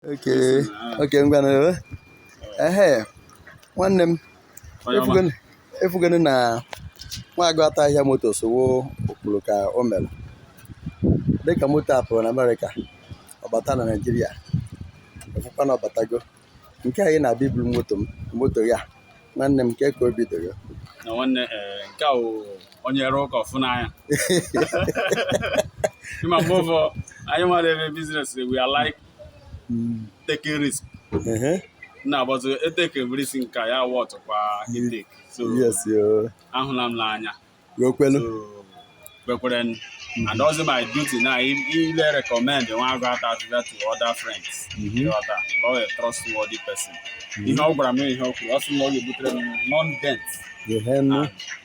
okay okay ngwanụ ehee nwanne m ị fụgonụ- ị fụgonụ na Nwaguatahihia Motors ọ wụ o kwuru ka o mere dịka moto a pụrụ na Amerịka ọ bata na Naijiria ị fụkwa na ọ batago nke anyị na-abịa iburu moto m moto ya nwanne m kee ka obi dị gị nna nwanne ee, nke a wụ onye rụọ ụka ọ fụ n'anya ị ma mgbe ụfọ anyị nwere ebe business we are like taking risk na but e takie risk nke a worth kwa itake so ahụla m n'anya wee kwere mm-hmm. and ọ wụzi my duty now ile recommend Nwaguatahihia to other friends that ọ wụ a trustworthy person mm-hmm. ihe ọ gwara m ihe o kwuru ọ sị na ọ ga-ebutere m non dent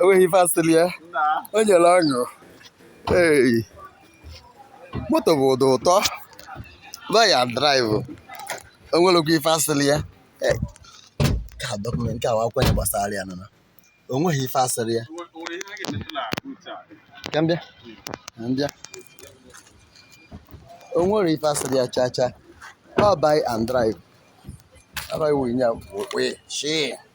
o nweghị ife asịrị ya o nyere ọṅụ moto bụ ụdị ụtọ buy and drive o nwerekwa ife asịrị ya ka document nke awa akwanye gbasara ya nana o nweghị ife asịrị ya ka m bịa ka m bịa o nwere ife asịrị ya chaa chaa ọ buy and drive. How do I win? Yeah, wait, shit.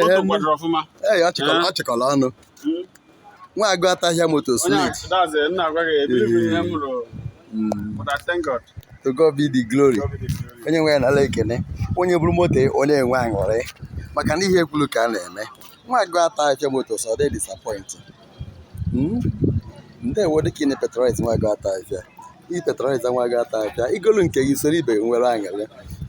Moto kwadoro ọfụma. Ee, ọ chịkọrọ ọ chịkọrọ ọnụ. Nwaguatahihia Motors Onye a, sweet. that's it, nna agwa gị, ebiri m ihe m rụrụ. But I thank God. To God be the glory. God be the glory. Onye nwe anyị nala ekene. Onye buru moto ya, ọ na-enwe aṅụrị. Maka na ihe ekwulu ka a na-eme. Nwaguatahihia Motors no dey disappoint. ndewo dịka ị na-epatronize Nwaguatahihia ị patronize Nwaguatahihia i golu nke gị soro ibe gị nwere aṅụrị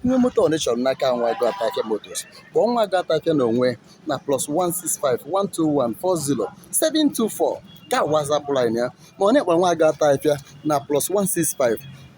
nwee moto ị chọrọ n'aka Nwaguatahihia Motors kpọọ Nwaguatahihia n'onwe ya na plus 165 121 40 724 ka WhatsApp line ya ma ọ na ị kpọrọ Nwaguatahihia na plus 165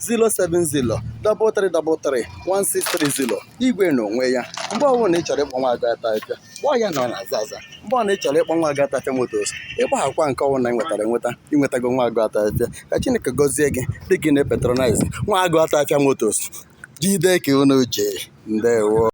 070-333-1630 igwe n'onwe ya mgbe ọbụna ị chọrọ ịkpọ Nwaguatahihia kpọọ ya na ọ na-aza aza mgbe ọbụna ị chọrọ ịkpọ Nwaguatahihia Motors ịkpaghakwa nke ọbụla i nwetara enweta i nwetago Nwaguatahihia ka Chineke gọzie gị dịka ị na-epatronize Nwaguatahihia Motors jide ka unu ji ndewo